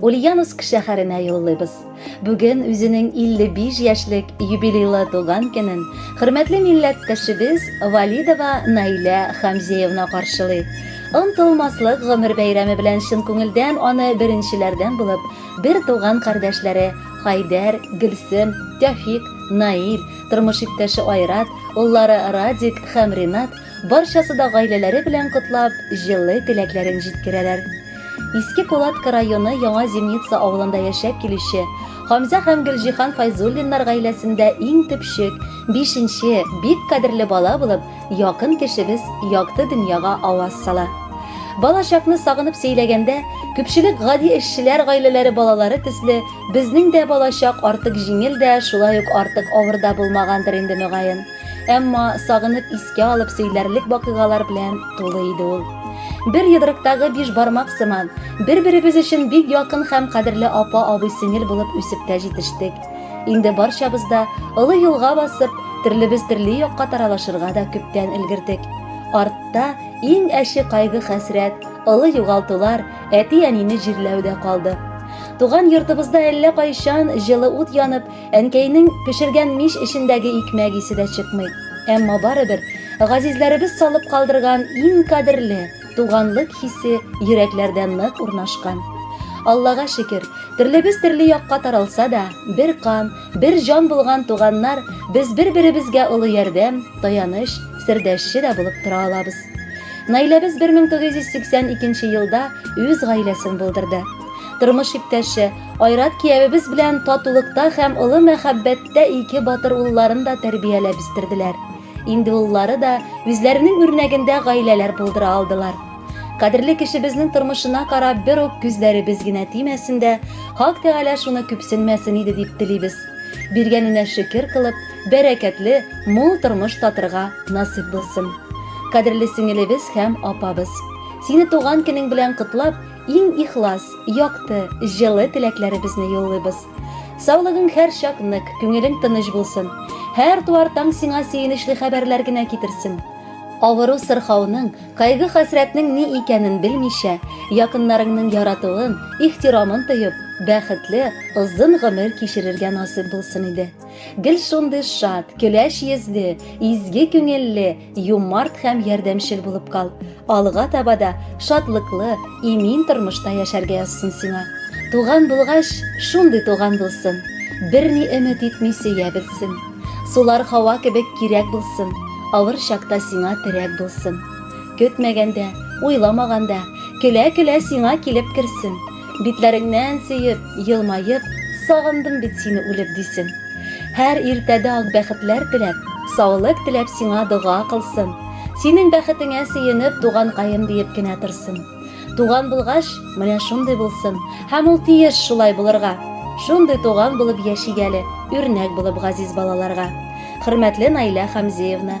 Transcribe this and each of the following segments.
Ульяновск шәһәренә юллыйбыз. Бүген үзенең 55 яшьлек юбилейлы туган көнен хөрмәтле милләттәшебез Валидова Наилә Хамзеевна каршылый. Онтылмаслык гомер бәйрәме белән чын күңелдән аны беренчеләрдән булып бер туган кардәшләре Хайдәр, Гөлсем, Тәфик, Наил, тормыш иптәше Айрат, уллары Радик һәм Ринат Барчасы да гаиләләре белән котлап, җылы теләкләрен җиткерәләр. Иске Кулатка районы Яңа Земница авылында яшәп килүче Хамзә һәм Гөлҗиһан Файзуллиннар гаиләсендә иң төпчек, бишенче, бик кадерле бала булып, якын кешебез якты дөньяга аваз сала. Бала чакны сагынып сөйләгәндә, күпчелек гади эшчеләр гаиләләре балалары төсле, безнең дә бала чак артык җиңел дә, шулай ук артык авыр да булмагандыр инде, мөгаен. Әмма сагынып искә алып сөйләрлек вакыйгалар белән тулы иде ул. Бер йодрыктагы биш бармак сыман, бер-беребез өчен бик якын һәм кадерле апа-абый-сеңел булып үсеп тә җитештек. Инде барчабыз да олы юлга басып, төрлебез төрле якка таралышырга да күптән өлгердек. Артта иң әче кайгы-хәсрәт, олы югалтулар, әти-әнине җирләү дә калды. Туган йортыбызда әллә кайчан җылы ут янып, Әнкәйнең пешергән мич эчендәге икмәк исе дә чыкмый. Әмма барыбер, газизләребез салып калдырган иң кадерле, туганлык хисе йөрәкләрдә нык урнашкан. Аллага шөкер, төрлебез төрле якка таралса да, бер кан, бер җан булган туганнар, без бер-беребезгә олы ярдәм, таяныч, сердәшче дә булып тора алабыз. Наиләбез 1982 елда үз гаиләсен булдырды. Тормыш иптәше, Айрат киявебез белән татулыкта һәм олы мәхәббәттә ике батыр улларын да тәрбияләп үстерделәр. Инде уллары да үзләренең үрнәгендә гаиләләр булдыра алдылар. Кадерле кешебезнең тормышына карап бер үк күзләребез генә тимәсен дә, Хак Тәгалә шуны күпсенмәсен иде дип телибез. Биргәненә шөкер кылып, бәрәкәтле, мул тормыш татырга насыйп булсын. Кадерле сеңелебез һәм апабыз! Сине туган көнең белән котлап, Иң ихлас, якты, җылы теләкләребезне юллыйбыз. Саулыгың һәрчак нык, күңелең тыныч булсын. Һәр туар таң сиңа сөенечле хәбәрләр генә китерсен. Авыру-сырхауның, кайгы-хәсрәтнең ни икәнен белмичә, якыннарыңның яратуын, ихтирамын тоеп, бәхетле, озын гомер кичерергә насыйп булсын иде. Гел шундый шат, көләч йөзле, изге күңелле, юмарт һәм ярдәмчел булып кал. Алга таба да шатлыклы, имин тормышта яшәргә язсын сиңа. Туган булгач, шундый туган булсын. Берни өмет итми сөя белсен. Сулар һава кебек кирәк булсын. Авыр чакта сиңа терәк булсын. Көтмәгәндә, уйламаганда, көлә-көлә сиңа килеп керсен. Битләреңнән сөеп, елмаеп, Сагындым бит сине үлеп, дисен. Һәр иртәдә ак бәхетләр теләп, Саулык теләп сиңа дога кылсын. Синең бәхетеңә сөенеп, Туганкаем диеп кенә торсын. Туган булгач, менә шундый булсын, Һәм ул тиеш шулай булырга. Шундый туган булып яшик әле, Үрнәк булып газиз балаларга. Хөрмәтле Наилә Хәмзеевна!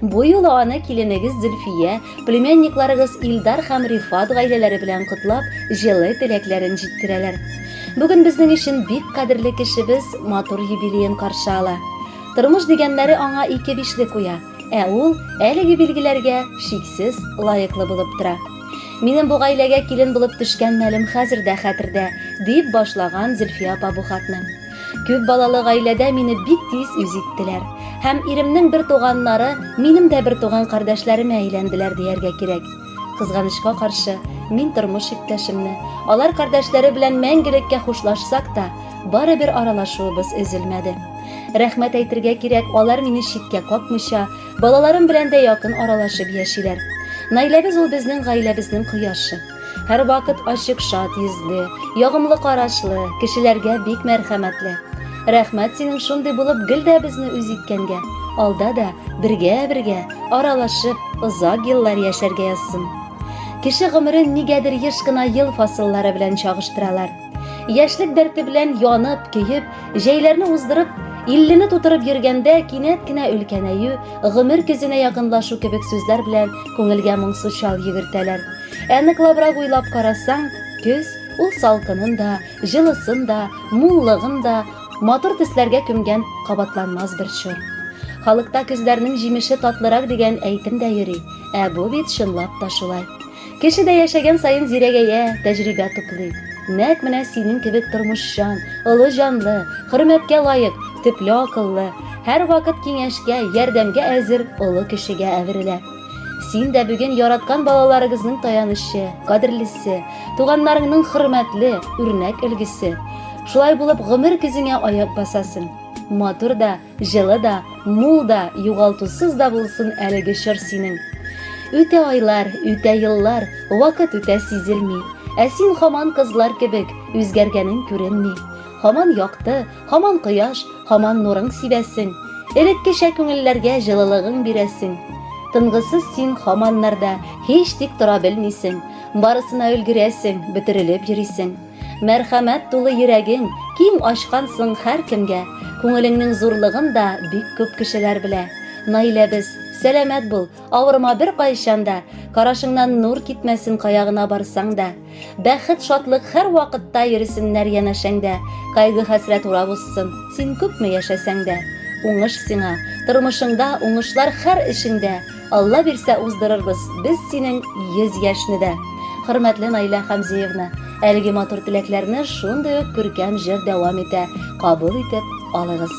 Бу юлы аны киленегез Зөлфия, племянникларыгыз Илдар һәм Рифат гаиләләре белән котлап, җылы теләкләрен җиткерәләр. Бүген безнең өчен бик кадерле кешебез матур юбилеен каршы ала. Тормыш дигәннәре аңа ике бишле куя, ә ул әлеге билгеләргә чиксез лаеклы булып тора. Минем бу гаиләгә килен булып төшкән мәлем хәзер дә хәтердә, дип башлаган Зөлфия апа бу хатны. Күп балалы гаиләдә мине бик тиз үз иттеләр. Һәм иремнең бер туганнары минем дә бер туган кардәшләремә әйләнделәр дияргә кирәк. Кызганычка каршы, мин тормыш иптәшемне, алар кардәшләре белән мәңгелеккә хушлашсак та, барыбер аралашуыбыз өзелмәде. Рәхмәт әйтергә кирәк, алар мине читкә какмыйча, балаларым белән дә якын аралашып яшиләр. Наиләбез ул безнең гаиләбезнең кояшы. Һәрвакыт ачык шат йөзле, ягымлы карашлы, кешеләргә бик мәрхәмәтле. Рәхмәт синең шундый булып гел дә безне үз иткәнгә. Алда да бергә-бергә, аралашып, озак еллар яшәргә язсын. Кеше гомерен нигәдер еш кына ел фасыллары белән чагыштыралар. Яшьлек дәрте белән янып, көеп, җәйләрне уздырып, иллене тутырып йөргәндә кинәт кенә өлкәнәю, гомер көзенә якынлашу кебек сүзләр белән күңелгә моңсу чал йөгертәләр. Ә ныклабрак уйлап карасаң, көз ул салкынын да, җылысын да, муллыгын да матур төсләргә күмгән кабатланмас бер чор. Халыкта көзләрнең җимеше татлырак дигән әйтем дә йөри, ә бу бит чынлап та шулай. Кеше дә яшәгән саен зирәгәя, тәҗрибә туплый. Нәкъ менә синең кебек тормышчан, олы җанлы, хөрмәткә лаек, төпле акыллы, һәрвакыт киңәшкә, ярдәмгә әзер олы кешегә әверелә. Син дә бүген яраткан балаларыгызның таянычы, кадерлесе, туганнарыңның хөрмәтле, үрнәк өлгесе. Шулай булып гомер көзеңә аяк басасың. Матур да, Җылы да, мул да, югалтусыз да булсын әлеге чор синең. Үтә айлар, үтә еллар, вакыт үтә сизелми. Ә син хаман кызлар кебек, үзгәргәнең күренми. Хаман якты, хаман кояш, хаман нурың сибәсең. Элеккечә күңелләргә җылылыгың бирәсең. Тынгысыз син хаман нарда, һич тик тора белмисең. Барысына өлгерәсең, бөтерелеп йөрисең. Мәрхәмәт тулы йөрәгең, киң ачкансың һәркемгә. Күңелеңнең зурлыгын да бик күп кешеләр белә. Наиләбез, сәламәт бул, авырма беркайчан да, карашыңнан нур китмәсен кая гына барсаң да. Бәхет, шатлык һәрвакытта йөресеннәр янәшәңдә, кайгы-хәсрәт урап узсын, син күпме яшәсәң дә. Уңыш сиңа, тормышыңда, уңышлар һәр эшеңдә. Алла бирсә уздырырбыз без синең 100 яшьне дә. Хөрмәтле Наилә Хәмзиевна, әлеге матур теләкләрне шундый ук күркәм җыр дәвам итә, кабул итеп алыгыз.